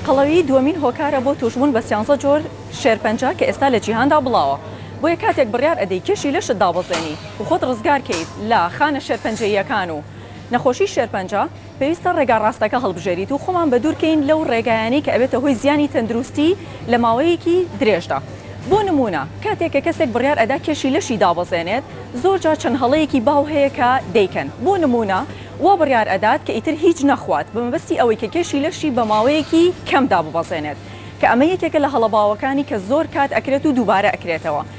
قەڵەوی دووەمین هۆکارە بۆ تووشبوون بە سیانزە جۆر شێرپەنجە کە ئێستا لە جیهاندا بڵاوە بۆیە کاتێک بڕیار ئەدەی کێشی لەشت دابەزێنی و خۆت ڕزگار کەیت لە خانە شێرپەنجەییەکان و نەخۆشی شێرپەنجە پێویستە ڕێگا ڕاستەکە هەڵبژێریت و خۆمان بەدوور کەین لەو ڕێگایانەی کە ئەبێتە هۆی زیانی تەندروستی لە ماوەیەکی درێژدا بۆ نموونە کاتێک کە کەسێک بڕیار ئەدا کێشی لەشی دابەزێنێت زۆر جار چەند هەڵەیەکی باو هەیە کە دەیکەن بۆ نموونە وا بڕیار ئەدات کە ئیتر هیچ نەخوات بە مەبەستی ئەوەی کە کێشی لەشی بە ماوەیەکی کەم داببەزێنێت کە ئەمە یەکێکە لە هەڵە باوەکانی کە زۆر کات ئەکرێت و دووبارە ئەکرێتەوە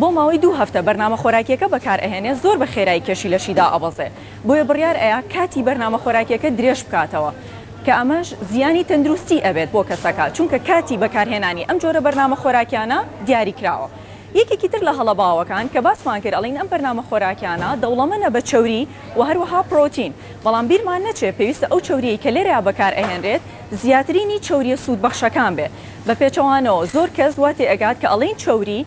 بۆ ماوەی دوو هەفتە بەرنامە خۆراکیەکە بەکار ئەهێنێ زۆر بە خێرایی کێشی لەشی دائەبەزێ بۆیە بڕیار ئەیا کاتی بەرنامە خۆراکیەکە درێژ بکاتەوە کە ئەمەش زیانی تەندروستی ئەبێت بۆ کەسەکە چونکە کاتی بەکار هێنانی ئەم جۆرە بەرنامە خۆراکیانە دیاری کراوە یەکێکی تر لە هەڵە باوەکان کە باسمان کرد ئەڵین ئەم بەرنامە خۆراکیانە دەوڵەمەنە بە چەوری وە هەروەها پرۆتین بەڵام بیرمان نەچێ پێویستە ئەو چەوریەی کە لێرەیا بەکار ئەهێنرێت زیاترینی چەوریە سوود بەخشەکان بێ بە پێچەوانەوە زۆر کەس وا تێ ئەگات کە ئەڵین چەوری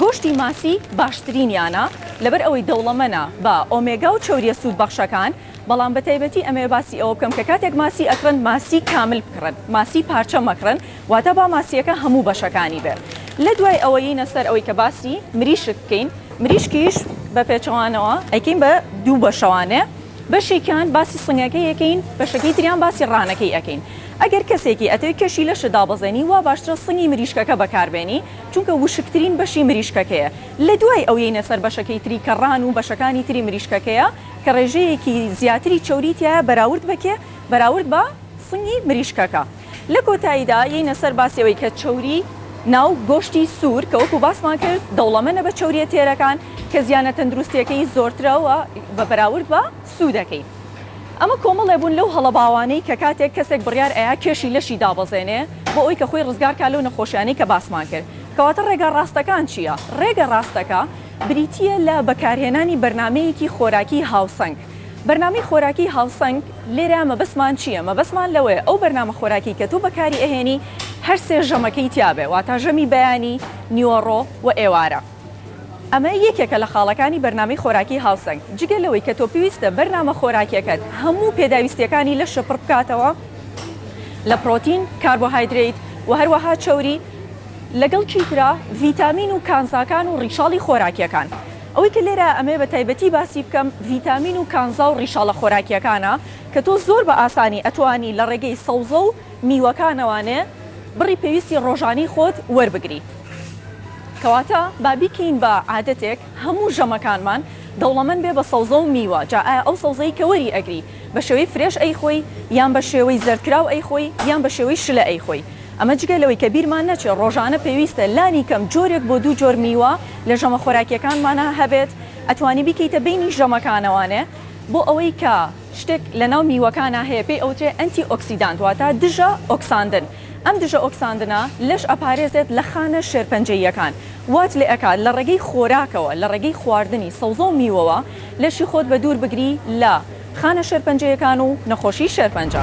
گۆشتی ماسی باشترینیانە لەبەر ئەوەی دەوڵەمەنە بە ئۆمێگا و چەورییە سوودبەخشەکان، بەڵام بە تایبەتی ئەمەوێ باسی ئەوە بکەم کە کاتێک ماسی ئەکڕن ماسی کامل بکڕن ماسی پارچە مەکڕن واتە با ماسییەکە هەموو بەشەکانی بێ لە دوای ئەوە یینە سەر ئەوەی کە باسی مریشک بکەین مریشکیش بە پێچەوانەوە ئەیکەین بە دوو بەشەوانێ بەشێکیان باسی سنگەکەی ئەکەین بەشەکەی تریان باسی ڕانەکەی ئەکەین ئەگەر کەسێکی ئەتەوێ کێشی لەشت دابەزێنی وا باشترە سنگی مریشکەکە بەکار بێنی چونکە وشکترین بەشی مریشکەکەیە لە دوای ئەو یەینە سەر بەشەکەی تری کە ڕان و بەشەکانی تری مریشکەکەیە کە ڕێژەیەکی زیاتری چەوری تیایە بەراورد بە کێ بەراورد بە سنگی مریشکەکە لە کۆتاییدا یەینە سەر باسی ئەوەی کە چەوری ناو گۆشتی سوور کە وەکو باسمان کرد دەوڵەمەنە بە چەوریە تێرەکان کە زیانە تەندروستیەکەی زۆرترە وە بە بەراورد بە سوودەکەی ئەمە کۆمەڵێ بوون لەو هەڵە باوانەی کە کاتێک کەسێک بڕیار ئەیا کێشی لەشی دابەزێنێ بۆ ئەوی کە خۆی ڕزگار کا لەو نەخۆشیانەی کە باسمان کرد کەواتە ڕێگا ڕاستەکان چیە ڕێگە ڕاستەکە بریتیە لە بەکارهێنانی بەرنامەیەکی خۆراکی هاوسەنگ بەرنامەی خۆراکی هاوسەنگ لێرە مەبەستمان چیە مەبەستمان لەوەیە ئەو بەرنامە خۆراکی کە تۆ بەکاری ئەهێنی هەر سێ ژەمەکەی تیابێ واتا ژەمی بەیانی نیوەڕۆ و ئێوارە. ئەمە یەکێکە لە خاڵەکانی بەرنامەی خۆراکی هاوسەنگ، جگە لەوەی کە تۆ پێویستە بەرنامە خۆراکیەکەت هەموو پێداویستیەکانی لەشە پڕ بکاتەوە لە پرۆتین، کاربۆهایدرەیت و هەروەها چەوری، لەگەڵ چیترا ڤیتامین و کانزاکان و ڕیشاڵی خۆراکیەکان. ئەوەی کە لێرە ئەمەوێ بە تایبەتی باسی بکەم ڤیتامین و کانزا و ڕیشاڵە خۆراکیەکانە کە تۆ زۆر بە ئاسانی ئەتوانی لە ڕێگەی سەوزە و. میوەکانەوانێ بڕی پێویستی ڕۆژانەی خۆت وەربگری. کەواتە با بیکەین بە عادەتێک هەموو ژەمەکانمان دەوڵەمەند بێ بە سەوزە و میوە، جا ئایا ئەو سەوزەی کە وەری ئەگری بە شێوەی فرێش ئەیخۆی یان بە شێوەی زەردکراو ئەیخۆی یان بە شێوەی شلە ئەیخۆی. ئەمە جگە لەوەی کە بیرمان نەچێ ڕۆژانە پێویستە لانی کەم جۆرێک بۆ دوو جۆر میوە لە ژەمە خۆراکیەکانمانا هەبێت، ئەتوانی بیکەیتە بەینی ژەمەکانەوانێ بۆ ئەوەی کە. شتێک لە ناو میوەکانا هەیە پێی ئەوترێ ئەنتی ئۆکسیدانت واتە دژە ئۆکساندن ئەم دژە ئۆکساندنە لەش ئەپارێزێت لە خانە شێرپەنجەییەکان وات لێ ئەکات لە ڕێگەی خۆراکەوە لە ڕێگەی خواردنی سەوزە و میوەوە لەشی خۆت بە دوور بگری لە خانە شێرپەنجەیەکان و نەخۆشی شێرپەنجە.